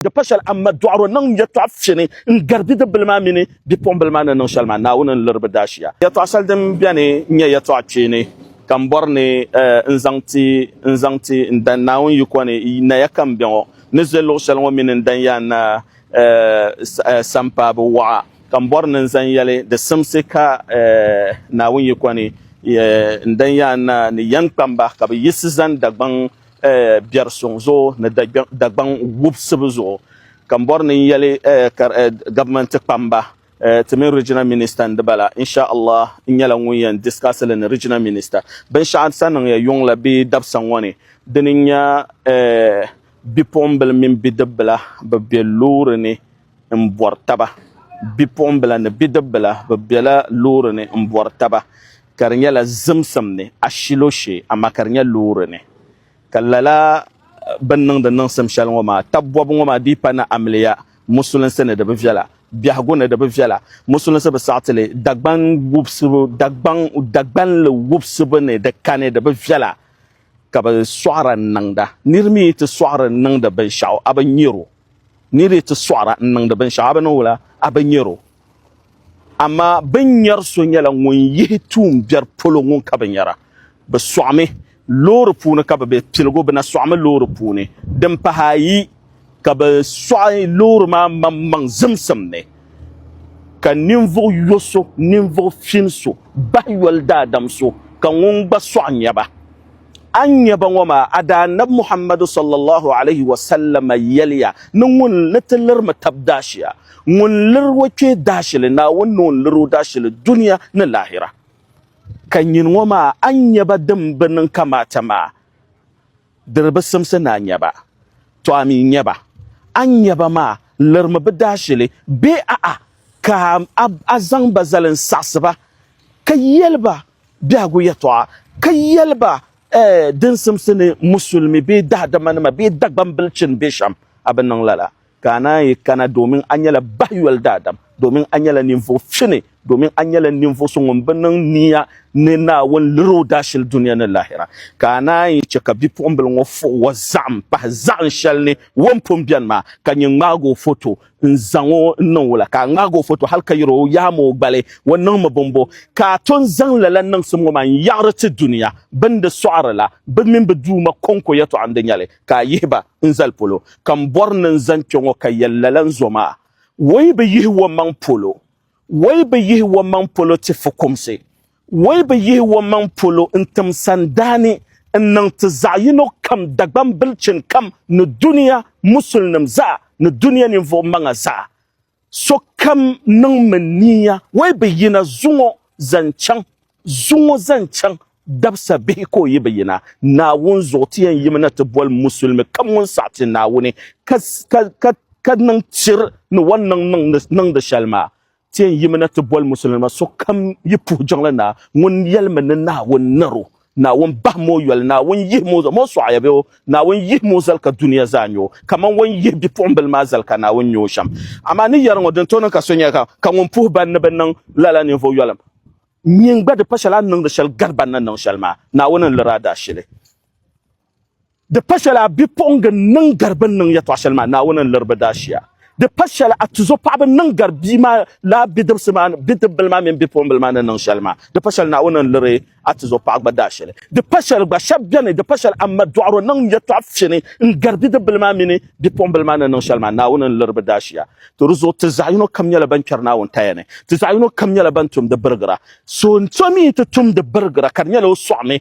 Di pa shɛli Amma Dɔɣiro niŋ yɛtɔɣ fini n-gari bidibbil maa mini bipuɣimbil maa ni niŋ shɛli maa, Naawuni n-liri bɛ daashia. Yɛtɔɣ shɛli din beni n-nyɛ yɛtɔɣ kpeeni, ka m bɔri ni n zaŋ ti n zaŋ ti n dan Naawuni yiko ni, Naya ka m be ŋɔ, ni ze luɣ shɛli ŋɔ mini n dan yaa na sampaabo waɣa, ka m bɔri ni n zaŋ yɛli di simsi ka Naawuni yiko ni, N dan yaa na ni yɛn kpamba ka bɛ yiɣisi zani Dagbaŋ eh, biɛri suŋ zuɣu ni Dagbaŋ wubisibu zuɣu ka m bɔri ni n yɛli eh, eh, gabimenti kpamba Eh, ti mini regional minister n di bala inshallah n nyɛla ŋun yɛn discuss li ni regional minister binshɛɣu sa niŋya yuŋ la bee dabisa ŋɔ ni dini n-nya eh, bipuɣimbila mini bidibila bɛ be loori ni n bɔri taba bipuɣimbila ni bidibbila bɛ bela loori ni m bɔri taba ka di nyɛla zimsim ni ashilo shee amaa ka di nyɛ loori ni ka lala bini niŋdi niŋsim shɛli ŋɔ maa taba bɔbu ŋɔ maa di yi pa ni amiliya musulinsi ni di bi viɛla biɛhigu ni di bi viɛla musulinsi bi saɣi ti li Dagban wubisibu Dagban Dagbanli wubisibu ni di kani di bi viɛla ka bi sɔɣira niŋda niri mi yi ti sɔɣiri niŋdi binshɛɣu a bi nyari o ni di ti sɔɣira n-niŋdi binshɛɣu a bi ni wula a bi nyari o. Amaa bɛ ni nyari so nyɛla ŋun yihi tuun biɛri polo ŋun ka bi nyara. Bɛ sɔɣimi loori puuni ka bɛ be piligu, bɛ na sɔɣimi loori puuni. Din pahi ayi ka bɛ sɔɣi loori maa maŋmaŋ zimsim ni, ka ninvuɣ yo so, ninvuɣ fin so, bahi yoli daadam so, ka ŋun gba sɔɣi nya ba. a ni nya ba ŋɔ maa, a Daanabi Muhammadu sallallahu alayhi wa sallama yɛliya ni ŋun ni ti liri mi tab daashia, ŋun liri o kpee daashili Naawuni ni o ni liri o daashili dunia ni laahira. Ka nyini ŋɔ maa a ni nya ba din bi niŋ kamaata maa, di di bi simsi ni a nya ba, tɔ a mi nya ba. A ni nya ba maa liri mi bɛ daashili bee a'a ka a zaŋ ba zali n-saɣisi ba ka yɛli ba biɛhigu yɛtɔɣa ka yɛli ba din simsi ni musulimi bee daadamanima bee Dagbambilichini be shɛm, a bi niŋ lala, ka a naan yi kana domin a nyɛla bahiyoli daadam, domin a nyɛla ninvuɣ fini, domin a nyɛla ninvuɣ so ŋun bi niŋ nia ni Naawuni liri o daashili dunia ni lahira. Ka a naan yi chɛ ka bipuɣimbila ŋɔ fuɣ o zaɣim pahi zaɣin shɛli ni o ni pun beni maa, ka nyin ŋmaag o foto n zaŋ o n niŋ wula ka a ŋmaag o foto hal ka yɛr o yaam o gbali o niŋmi bɔmbo ka a ton zaŋ lala niŋsim ŋɔ maa n-yaɣiri ti dunia bɛn di sɔɣiri la bɛ mini bɛ Duuma kɔŋko yɛtɔɣa n-di nyɛli ka a yihi ba n zali polo ka m bɔri ni n zani kpe ŋɔ ka yɛl lala n zo maa Woi bi yihi wommaŋ polo Woi bi yihi wommaŋ polo ti fukumsi Wei bi yihi omaŋ polo n tim sandaani n niŋ ti zaɣiyino kam Dagbaŋ bilichini kam ni dunia musulinim zaa ni dunia ninvuɣu maŋa zaa. Sokam niŋ mi niiya wei bi yina zuŋɔ zan chaŋ zuŋɔ zan chaŋ dabisa bihi ka o yi bi yina Naawuni zuɣu ti yɛn yimi na ti boli musulimi kam ŋun saɣi ti Naawuni ka niŋ tiri ni o ni niŋ niŋdi shɛli maa. Ti yɛn yimi na ti boli Musulinima sokam yi puhi jiŋli Naa, ŋun yɛlimi ni Naawuni nar o, Naawuni bahim o yoli, Naawuni yihim o zali, mɔ sɔɣi ya bɛ o, Naawuni yihim o zali ka dunia zaa nya o, kaman wan yihi bipuɣimbila maa zali ka Naawuni nya o shɛm. Amaa ni yɛri ŋɔ, din tooi niŋ ka so nya ka ŋun puhi ba ni bɛ niŋ lala ninvuɣ yɔlim nyin gba di pa shɛli a ni niŋdi shɛli gari ba ni niŋ shɛli maa, Naawuni n-lir a daashili. Di pa shɛli a bipuɣiŋga n-niŋ gari bɛ ni niŋ yɛtɔɣ shɛli maa Naawuni ni liri bɛ daashia. Di pa shɛli a tuzo paɣiba ni niŋ gari bia maa laa bidibisi maa ni bidibbil maa mini bipuɣimbila maa ni niŋ shɛli maa. Di pa shɛli Naawuni ni liri a tuzo paɣa gba daashili. Di pa shɛli gba, shɛb beni, di pa shɛli a ma dɔɣiro niŋ yɛtɔɣ fini n-gari bidibbil maa mini bipuɣimbila maa ni niŋ shɛli maa Naawuni ni liri bɛ daashia. To di zuɣu ti zaɣ yino kam nyɛla bɛn kpɛri Naawuni kaya ni, ti zaɣ yino kam nyɛla bɛn tumdi birigira. So n-so mi yi ti tumdi birigira ka di nyɛla o sɔɣimi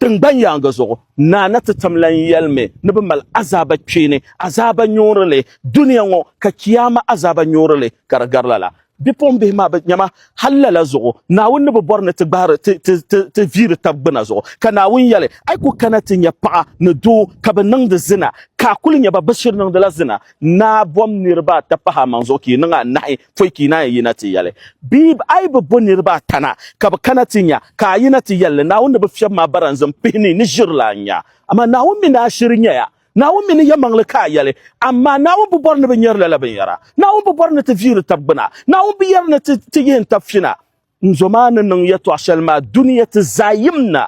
Tiŋgbani yaaŋa zuɣu, Naa na ti tam lan yɛlimi ni bɛ mali azaaba kpeeni, azaaba nyuurili dunia ŋɔ, ka Kiyaama azaaba nyuurili ka di gari lala. Bipuɣimbihi maa bi nyama, hal lala zuɣu Naawuni ni bi bɔri ni ti gbahiri ti viiri tab gbuna zuɣu. Ka Naawuni yɛli, A yi ku kana ti nya paɣa ni doo ka bɛ niŋdi zina, ka a kul nya ba bɛ shiri niŋdila zina, naa bom niriba ata pahi a maŋ zuɣu ka yi niŋ anahi. pɔi ka yi naan yina ti yɛli bee a yi bi bo niriba ata na ka bɛ kana ti nya ka a yina ti yɛli li, Naawuni ni bɛ fiɛbi ma a baranzim pihi ni ni ʒiri la n-nya. Amaa Naawuni mi ni a shiri nya ya. Naawuni mi ni yɛmaŋ li ka a yɛli, Amaa Naawuni bi bɔri ni bɛ nyari lala binyara. Naawuni bi bɔri ni ti viiri tab gbuna. Naawuni bi yɛri ni ti yihi n-tab fina. N zo maa ni niŋ yɛtɔɣ shɛli maa dunia ti zaa yim na,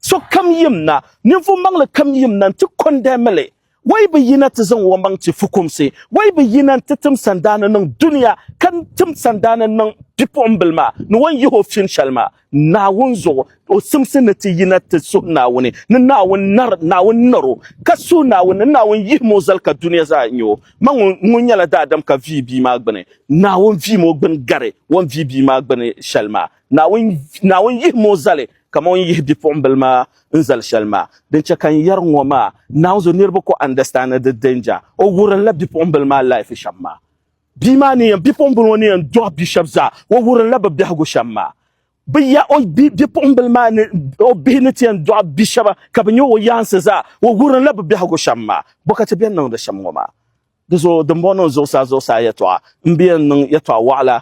sokam yim na, ninvuɣ maŋli kam yim na nti kɔndɛmi li. O yi bi yina ti zaŋ omaŋ ti fukumsi, o yi bi yina nti tim sandaani niŋ dunia ka tim sandaani niŋ bipuɣimbila maa ni o ni yihi o fin shɛli maa Naawuni zuɣu. O simsi ni ti yina ti suhi Naawuni ni Naawuni nar o, ka suhi Naawuni ni Naawuni yihim o zali ka dunia zaa nya o. Ma ŋun ŋun nyɛla daadam ka vihi bia maa gbini, Naawuni vihim o gbini gari o ni vihi bia maa gbini shɛli maa. Naawuni, Naawuni yihim o zali kaman o ni yihi bipuɣimbila maa n zali shɛli maa. Din chɛ ka n yɛri ŋɔ maa, Naawuni zo niriba ku understand di danger. O wurinla bipuɣimbila maa life shɛm maa. Bia maa ni yɛn, bipuɣimbila ŋɔ ni yɛn dɔɣi bia shɛba zaa, o wurinla bɛ biɛhigu shɛm maa. Bɛ ya o bipuɣimbila maa ni o bihi ni ti yɛn dɔɣi bi shɛba ka bɛ nya o yaansi zaa, o wurinla bɛ biɛhigu shɛm maa bɔkati bɛn niŋdi shɛm ŋɔ maa. Di zuɣu dimbɔŋɔ niŋ zuɣusaa zuɣusaa yɛtɔɣa m-bi yɛn niŋ yɛtɔɣ wɔɣila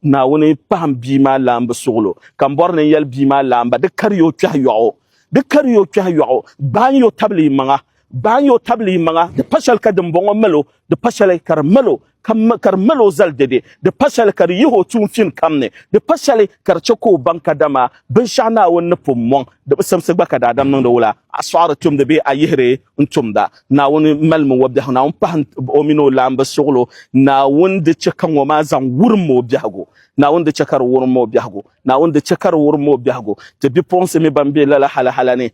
Naawuni pahim bia maa laambu suɣilo, ka m-bɔri ni n yɛli bia maa laamba, di kari ya o kpɛhi yɔɣu, di kari ya o kpɛhi yɔɣu, gbaai ya o tabili yimaŋa, Gbaai o tabili yi maŋa, di pa shɛli ka dimbɔŋɔ mali o, di pa shɛli ka di mali o, ka di mali o zali dɛde, di pa shɛli ka di yihi o tuun fin kam ni, di pa shɛli ka di chɛ ka o baŋ ka dama binshɛɣu Naawuni ni pun mɔŋ di bi simsi gba ka daadam niŋdi wula, a sɔɣiri tumdi bee a yihiri n-tumda. Naawuni malimi o biɛhigu, Naawuni pahi o mini o laamba suɣilo, Naawuni di chɛ ka ŋɔ maa zaŋ wurim o biɛhigu, Naawuni di chɛ ka di wurim o biɛhigu, Naawuni di chɛ ka di wurim o biɛhigu, ti bipuɣinsi mi bɛn be lala halahala ni,